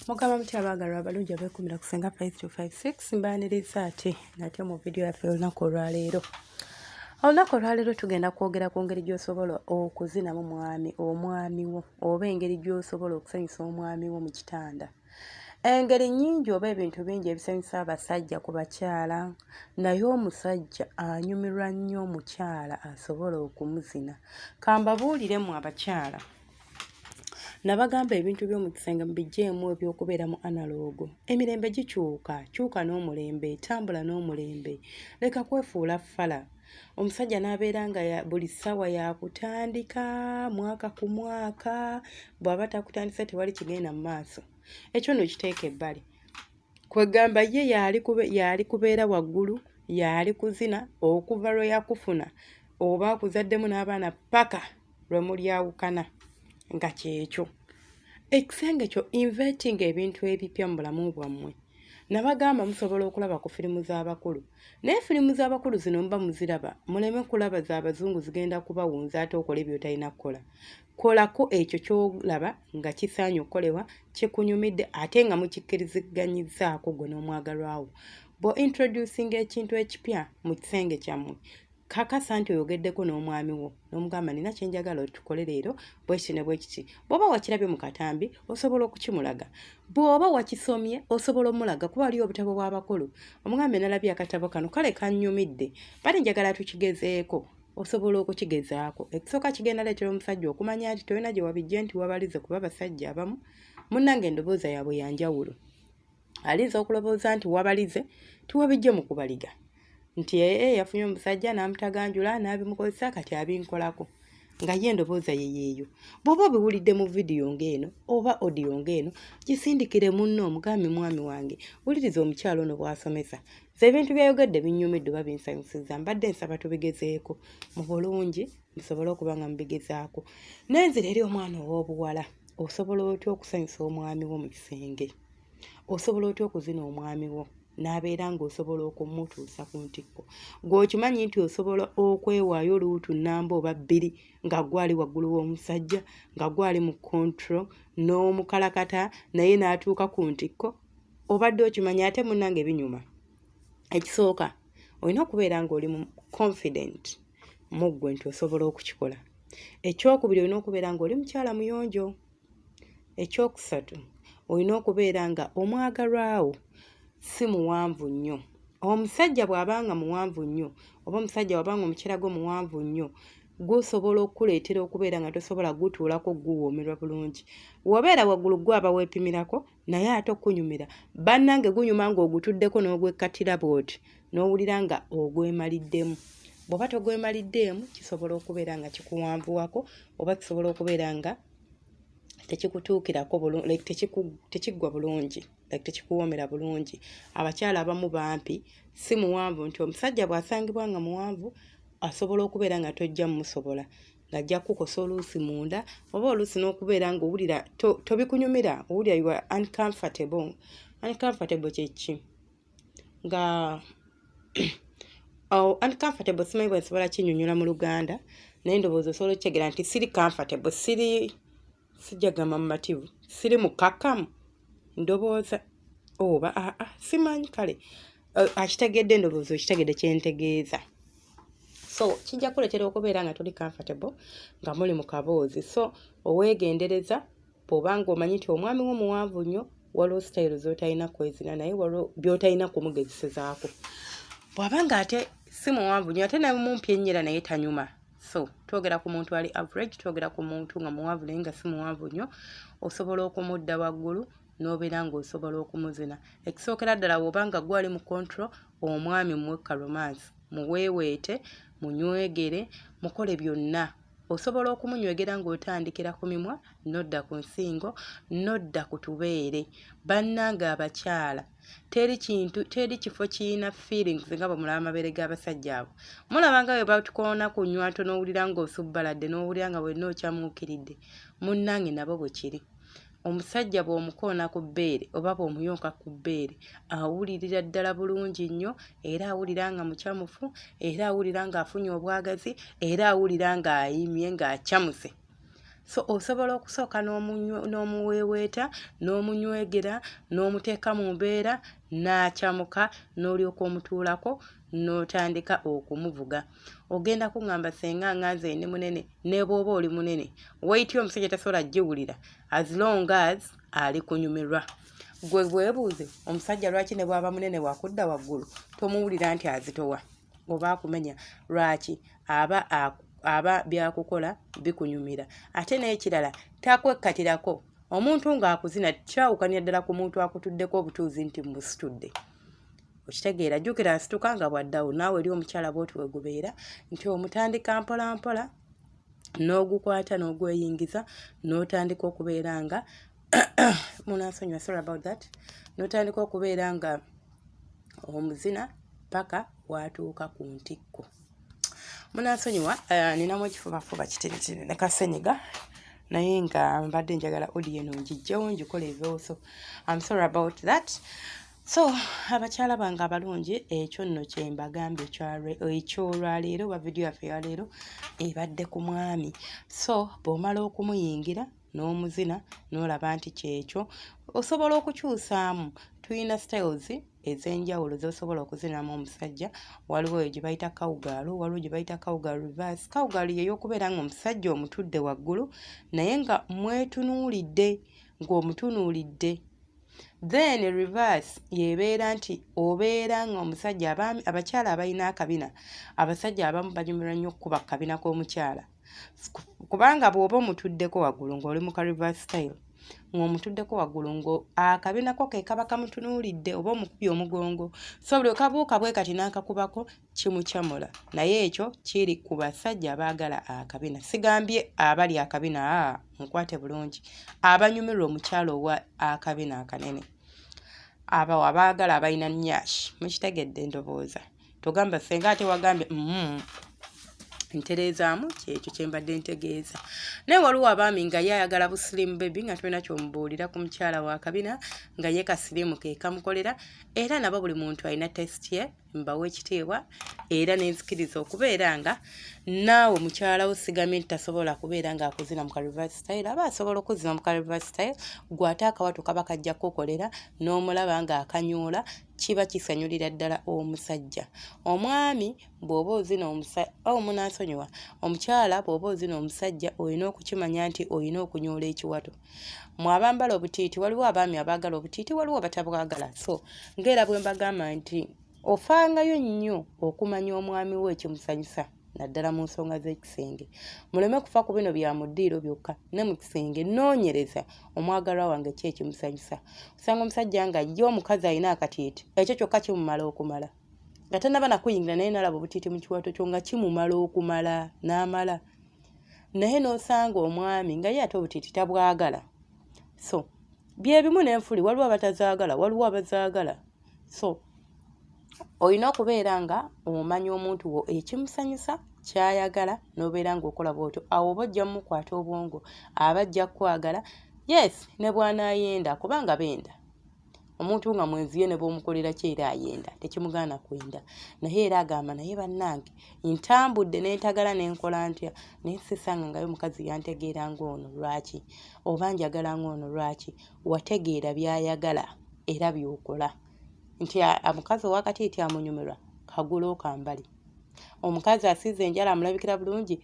mugamba mutya abaagalwa abalungi abekumira ku senga 5256 mbaniriza ati nate mu vidiyo yaffe olunaku olwaleero olunaku olwaleero tugenda kwogera ku ngeri gy'osobola okuzinamu mwami omwami wo oba engeri gy'osobola okusanyusa omwami wo mu kitanda engeri nyingi oba ebintu bingi ebisanyusa abasajja ku bakyala naye omusajja anyumirwa nnyo omukyala asobola okumuzina kambabuuliremu abakyala nabagamba ebintu by'omu kisenge mubijjeemu ebyokubeera mu analoogo emirembe gikyuka kyuka n'omulembe tambula n'omulembe leka kwefuula fala omusajja n'abeera nga buli ssaawa yakutandika mwaka ku mwaka bw'aba takutandise tewali kigenda mu maaso ekyo no kiteeka ebbali kwegamba ye yaali kubeera waggulu yaali kuzina okuva lwe yakufuna oba akuzaddemu n'abaana paka lwe mulyawukana nga kyekyo ekisenge kyo inveting ebintu ebipya mu bulamu bwammwe nabagamba musobola okulaba ku firimu z'abakulu naye firimu z'abakulu zino muba muziraba muleme kulaba z'abazungu zigenda kubawunza ate okola ebyotalina kukola kolako ekyo kyolaba nga kisaanye okukolebwa kikunyumidde ate nga mukikkiriziganyizaako gwe n'omwagalwawo bwe introducing ekintu ekipya mu kisenge kyammwe kakasa nti oyogeddeko n'omwami wo n'omugamba nina kyenjagala otukole leero bwekiti ne bwekiti bw'oba wakirabye mu katambi osobola okukimulaga bw'oba wakisomye osobola omulaga kuba waliyo obutabo bw'abakulu omugambe nalabye akatabo kano kale kannyumidde bali njagala tukigezeeko osobola okukigezaako ekisooka kigenda leetera omusajja okumanya nti tolina gye wabijje nti wabalize kuba abasajja abamu munnange endobooza yaabwe yanjawulo alinza okulowooza nti wabalize tiwabijje mu kubaliga nti ee eh, eh, yafunye omusajja n'amutaganjula n'abimukozesa kati abinkolako nga ye endobooza ye yeeyo bw'oba obiwulidde mu vidiyo ng'eno oba odiyo ng'eno gisindikire munno omugambi mwami wange wuliriza omukyalo ono bw'asomesa ze ebintu by'ayogedde binnyumidde oba binsanyusizza mbadde nsaba tubigezeeko mu bulungi musobole okuba nga mubigezaako nenzira eri omwana ow'obuwala osobola otya okusanyusa omwami wo mu kisenge osobola otya okuzina omwami wo n'abeera ng'osobola okumutuusa ku ntikko gweokimanyi nti osobola okwewaayo luutu namba oba bbiri nga gwali waggulu w'omusajja nga gwali mu control n'omukalakata naye n'atuuka ku ntikko obadde okimanyi ate munange binyuma ekisooka olina okubeera ng'oli mu confident mu ggwe nti osobola okukikola ekyokubiri olina okubeera ng'oli mukyala muyonjo ekyokusatu olina okubeera nga omwagalwawo si muwanvu nnyo omusajja bw'aba nga muwanvu nnyo oba omusajja waba nga omukyera gwo muwanvu nnyo gusobola okukuleetera okubeera nga tosobola gutuulako guwoomerwa bulungi wabeera waggulu gwe aba weepimirako naye ate okunyumira bannange gunyuma ng'ogutuddeko n'ogwekkatira bwoti n'owulira nga ogwemaliddemu bw'oba togwemaliddeemu kisobola okubeera nga kikuwanvuwako oba kisobola okubeera nga tekikutuukirako like tekiggwa bulungi like tekikuwoomera bulungi abakyala abamu bampi si muwanvu nti omusajja bw'asangibwa nga muwanvu asobola okubeera nga tojja mumusobola ng'ajja kukukosa oluusi munda oba oluusi n'okubeera ng'owulira tobikunyumira owulira you are uncomfortable uncomfortable kyeki nga oh, uncomfortable simanyi bwe nsobola kinyonyola mu luganda naye ndowooza osobola okitegera nti siri comfortable siri sijagamba mumativu siri mukakamu ndowooza oba oh, aa ah, ah, simanyi kale uh, akitegedde ndowooza okitegedde kyentegeeza so kijja kuletera okubeera nga tuli comfortable nga muli mu kaboozi so oweegendereza bw'oba ng'omanyi nti omwami wo muwanvu nnyo waliwo sitayiro z'otalina kwezina naye waliwo by'otalina kumugezesezaako bw'aba ng'ate si muwanvu nnyo ate namumpi ennyera naye tanyuma so twogera ku muntu ali average twogera ku muntu nga muwanvu naye nga si muwanvu nnyo osobola okumudda waggulu n'obeera ng'osobola okumuzina ekisookera ddala bw'oba nga gwali mu kontro omwami muwekka romansi muweeweete munywegere mukole byonna osobola okumunywegera ng'otandikira ku mimwa nodda ku nsingo nodda ku tubeere bannange abakyala teri kintu teri kifo kirina feelings nga bwe mulaba amabeere g'abasajja abo mulaba nga bwe batukoona ku nywanto n'owulira ng'osubbaladde n'owulira nga wenna okyamuukiridde munnange nabo bwe kiri omusajja bw'omukoona ku bbeere oba bw'omuyonka ku bbeere awulirira ddala bulungi nnyo era awulira nga mucamufu era awulira ng'afunye obwagazi era awulira ng'ayimye ng'acamuse so osobola okusooka n'omuweeweeta n'omunywegera n'omuteeka mu mbeera n'acamuka n'olyoka omutuulako n'otandika okumuvuga no ogenda kuŋŋamba senga nga nze ndi munene ne bw'oba oli munene weyiti omusajja tasobola giwulira as long as ali kunyumirwa gwe bwebuuze omusajja lwaki ne bwaba munene wakudda waggulu tomuwulira nti azitowa oba akumenya lwaki aba aba byakukola bikunyumira ate n'ekirala takwekkatirako omuntu ng'akuzina kyawukanya ddala ku muntu akutuddeko obutuuzi nti musitudde okitegeera jjukira nsituka nga bwaddawo naawe eri omukyala bwoti wegubeera nti omutandika mpolampola n'ogukwata n'ogweyingiza n'otandika okubeera nga munansonyiwa sorry about that n'otandika okubeera nga omuzina paka watuuka ku ntikko munansonyiwa eh, ninamu ekifubafuba kitiritiri ne kasenyiga naye nga mbadde njagala odiyo eno ngijjewo ngikole ebiwooso am sorry about that so abakyala bange abalungi ekyo nno kyembagambye ekyolwaleero oba vidiyo yaffe yaleero ebadde ku mwami so bwomala okumuyingira n'omuzina n'olaba nti kyekyo osobola okukyusaamu tulina styles ez'enjawulo z'osobola okuzinamu omusajja waliwo eyo gye bayita kawugaalu waliwo gye bayita kawugaalu reverse kawugaalu yeyokubeera nga omusajja omutudde waggulu naye nga mwetunuulidde ng'omutunuulidde then reverse yebeera nti obeera nga omusajja abaami abakyala abalina akabina abasajja abamu banyumirwa nnyo okukuba kukabina k'omukyala kubanga bw'oba omutuddeko waggulu ng'oli mu ka reverse style ng'omutuddeko waggulu ngo akabinako ke kaba kamutunuulidde oba omukubye omugongo so buli okabuuka bwe kati n'akakubako kimucamula naye ekyo kiri ku basajja abaagala akabina sigambye abali akabina a mukwate bulungi abanyumirwa omukyalo owa akabina akanene abawo abaagala abalina nyash mukitegedde endobooza togamba senga ate wagambye mm, ntereezaamu kyekyo kyembadde ntegeeza naye waliwo abaami nga ye ayagala busilimu bebi nga tulina kyomubuulira ku mukyala wa kabina nga ye kasilimu kekamukolera era nabo buli muntu alina test ye mbawa ekitiibwa era nenzikiriza okubeera nga naawe mukyala wo sigambye nti tasobola kubeera nga akuzina mu kalivari style aba asobola okuzina mu kalivari style gwe ate akawatu kaba kajja kukokolera n'omulaba nga akanyuula kiba kisanyulira ddala omusajja omwami bw'oba ozina omusaawo munansonyiwa omukyala bw'oba ozina omusajja olina okukimanya nti olina okunyoola ekiwato mu abambala obutiiti waliwo abaami abaagala obutiiti waliwo batabwagala so ngaera bwe mbagamba nti ofangayo nnyo okumanya omwami wo ekimusanyusa naddala mu nsonga z'ekisenge muleme kufa ku bino bya muddiiro byokka ne mu kisenge noonyereza omwagalwa wange ki ekimusanyusa osanga omusajja nga ye omukazi alina akatiiti ekyo kyokka kimumala okumala nga tanaba nakuyingira naye nalaba obutiiti mu kiwato kyo nga kimumala okumala n'amala naye n'osanga omwami nga ye ate obutiiti tabwagala so byebimu n'enfuli waliwo abatazaagala waliwo abazaagala so olina okubeera nga omanya omuntu wo ekimusanyusa kyayagala n'obeera ng'okola bwotyo awo oba ojja mumukwata obwongo aba ajja kukwagala yes ne bwanaayenda kubanga benda omuntu nga mwenzi ye ne bwomukolera ki era ayenda tekimugaana kwenda naye era agamba naye bannange ntambudde nentagala nenkola ntya naye sisanga ngayo omukazi yantegeera ngaono lwaki oba njagala ngaono lwaki wategeera byayagala era byokola nti omukazi owakati nti amunyumirwa kagula okambali omukazi asiiza enjala amulabikira bulungi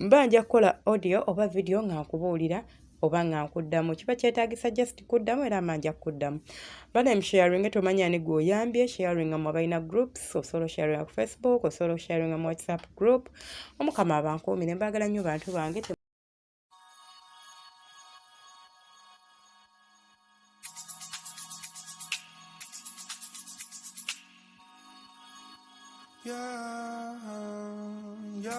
mba nja kukola audio oba video nga nkubuulira oba nga nkuddamu kiba kyetagisa just kuddamu era mba nja kukuddamu bana msharinge tomanya ani gwe oyambye sharinga mu abalina groups osobola osharinga ku facebook osobola osharinga mu whatsapp group omukama abankuumire mbaagala nnyo bantu bange Yeah, yeah.